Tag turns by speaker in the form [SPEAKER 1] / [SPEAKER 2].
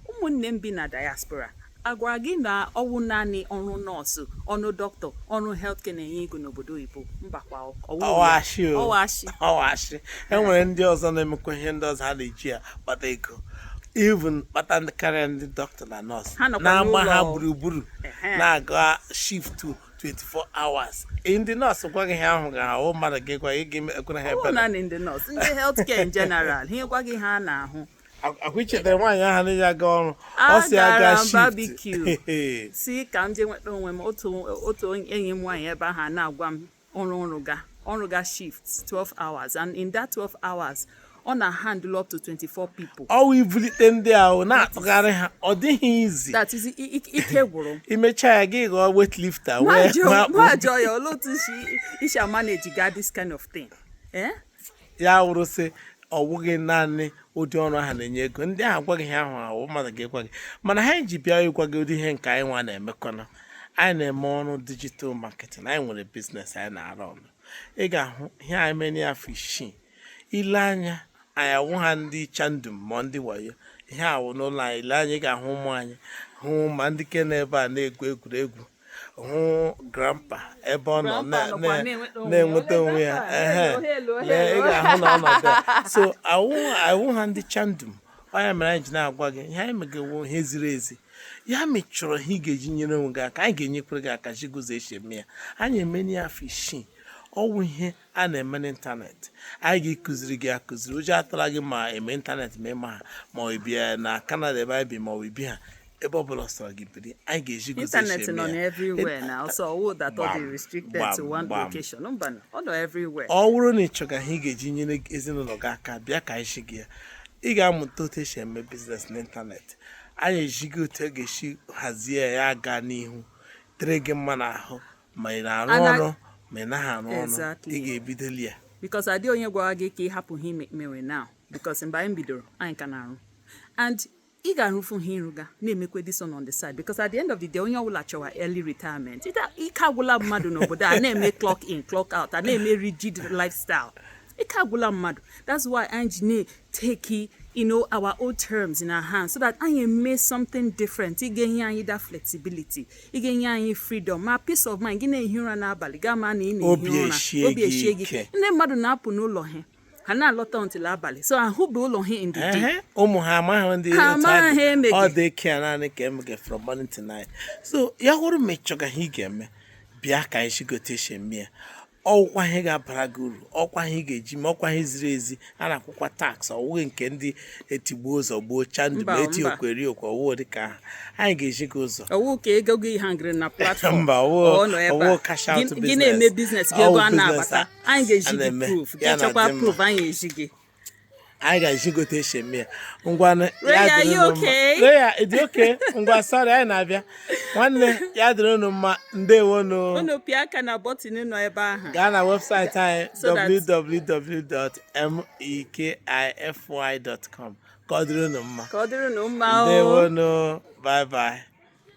[SPEAKER 1] ụmụnne m bi na diaspora agwara gị na ọwụ naanị ọrụ nọọsụ ọrụ dọkịta ọrụ healthcare na-enye ego n'obodo oyibo mbakwa ọwụ ashị o ọwụ
[SPEAKER 2] ashị ọwụ ashị enwere ndị ọzọ na-emekwa ihe ndị ọzọ ha na-eji ya kpata ego even kpata karịa ndị dọkịta na nọọsụ Ha nọkwa na-agba ha n'ụlọ. gburugburu Ehe. na-aga shift 24 hours ndị nọọsụ gwa gị ihe ha hụga ahụ mmadụ gị gwa gị ga-ekwere ha ọwụ ebere naanị ndị nọọsụ ndị
[SPEAKER 1] healthcare in general ha gwa gị ihe ha na-ahụ ọkwa
[SPEAKER 2] ichetara nwaanyị ahụ na-aga ọrụ ọ si aga shift
[SPEAKER 1] barbecue sị ka m jee nweta onwe m otu enyi m nwaanyị ebe ahụ na-agwa m ọrụ ọrụ ga ọrụ ga shift 12 hours and in that 12 hours ọ na-handle up to 24 people. ọwụ ibulite
[SPEAKER 2] ndị ahụ na-atụgharị ha ọ dịghị easy that is
[SPEAKER 1] ike gwụrụ imecha ya gị ghọọ
[SPEAKER 2] weightlifter mụ nwa ajụọ
[SPEAKER 1] ya olee otu isi amanage ga this kind of thing. Eh?
[SPEAKER 2] ya wụrụ sị ọ wụghị naanị ụdị ọrụ ahụ na-enye ego ndị ahụ gwa gị ihe ha hụ ahụ mmadụ ga-ekwa gị mana ihe anyị ji bịa ịgwa gị ụdị ihe nke anyị nwa na-emekọna anyị na-eme ọrụ digital marketing anyị nwere business anyị na-arụ ọrụ ị ga-ahụ ihe anyị mere n'afọ isii ile anya anyị awụha ndị chandum ma ndị wayo ihe a wụ n'ụlọ anyị ile anya ị ga-ahụ ụmụ anyị hụ ma ndị ke nọ ebe a na-egwu egwuregwu hụ grandpa ebe ọ nọ Grandpa na- nọkwa na- na-enweta onwe ya. na-enweta onwe ya Hello, ehe. hello, Lee, ị hello. ga-ahụ na ọ nọ there. so anyị awụha ndị chandum ọ ya mere anyị ji na-agwa gị ihe anyị mege wụ ihe ziri ezi ya ma ị chọrọ ihe ị ga-eji nyere onwe gị aka anyị ga-enyekwere gị aka zi gị otu esi eme ya anyị emeni ya afọ isii ọwụ ihe a na-eme n'ịntanetị anyị ga-akụziri gị akụziri ụjọ atụla gị ma ịma ịntanetị ma ịmaha ma ibi na Canada ebe anyị bi ma ibiha ebe ọbụla ọ sọrọ gị biri anyị ga-ezi gị otu internet esi eme nọ ya.
[SPEAKER 1] everywhere now so ọwụ that ọ dị Gbam, restricted to gbam, one gbam. location mba na, ọ nọ everywhere ọ bụrụ na ị
[SPEAKER 2] chọga ihe ị ga-eji nyere ezinụlọ gị aka bịa ka anyị zi gị ya ị ga-amụta otu esi eme business n'ịntanetị anyị ezi gị otu ị ga-esi hazie ya ya gaa n'ihu dịrị gị mma n'ahụ ma ị na-arụ Ana- ọrụ ma ị naghị arụ ọrụ Exactly. ị ga-ebidoli ya because ọ dịghị onye
[SPEAKER 1] gwara gị ka ị hapụ ihe ị mewe now because mgbe anyị bidoro anyị ka na-arụ and ị ga-arụfu ihe ịrụga na-emekwe this one on the side because at the end of the day onye ọbụla chọwa early retirement Ịta- ike agwụla mmadụ n'obodo a na-eme clock in clock out a na-eme rigid lifestyle ike agwụla mmadụ that's why anyị ji take you know our own terms in our hands so that anyị mee something different ihe ga-enye anyị that flexibility ihe ga-enye anyị freedom ma peace of mind gị na-ehi ụra n'abalị gị ama na ị na-ehi ụra obi eshie gị ndị mmadụ na-apụ n'ụlọ ha ha na-alọta until abalị so ahụbe ụlọ ha in the day ụmụ ha
[SPEAKER 2] amaghị ndị ha amaghị eme ọ daycare nanny ka emege from morning to night so ya wụrụ ma ị chọga ihe ị ga-eme bịa ka anyị zi gị otu esi eme ya ọwụkwa ihe ga-abara gị uru ọwụkwa ihe ị ga-eji ma ọwụkwa ihe ziri ezi a na-akwụkwa tax ọwụghị nke ndị etigbuo zọgbuo cha ndị ma eti okweri okwe ọwụghị dịka aha anyị ga-ezi gị ụzọ ọwụ ka ego
[SPEAKER 1] gị hangịrị na platform mba
[SPEAKER 2] ọwụ kasha gị na-eme business gị
[SPEAKER 1] ego a na-abata anyị ga-ezi gị proof gị chọkwa proof anyị ezi gị
[SPEAKER 2] anyị ga-ezi gị otu esi eme ya ngwanụ Ray, ya are dịrị you unu mma.
[SPEAKER 1] okay? Ray, ya- ị dị
[SPEAKER 2] okay ngwa sorry anyị na-abịa nwanne ya dịrị unu mma ndewonu unu pịa aka na
[SPEAKER 1] button nọ ebe ahụ gaa na
[SPEAKER 2] website anyị So that- www.mekify.com ka ọ dịrị unu mma
[SPEAKER 1] ka ọ dịrị
[SPEAKER 2] unu mma o ndewonu bye bye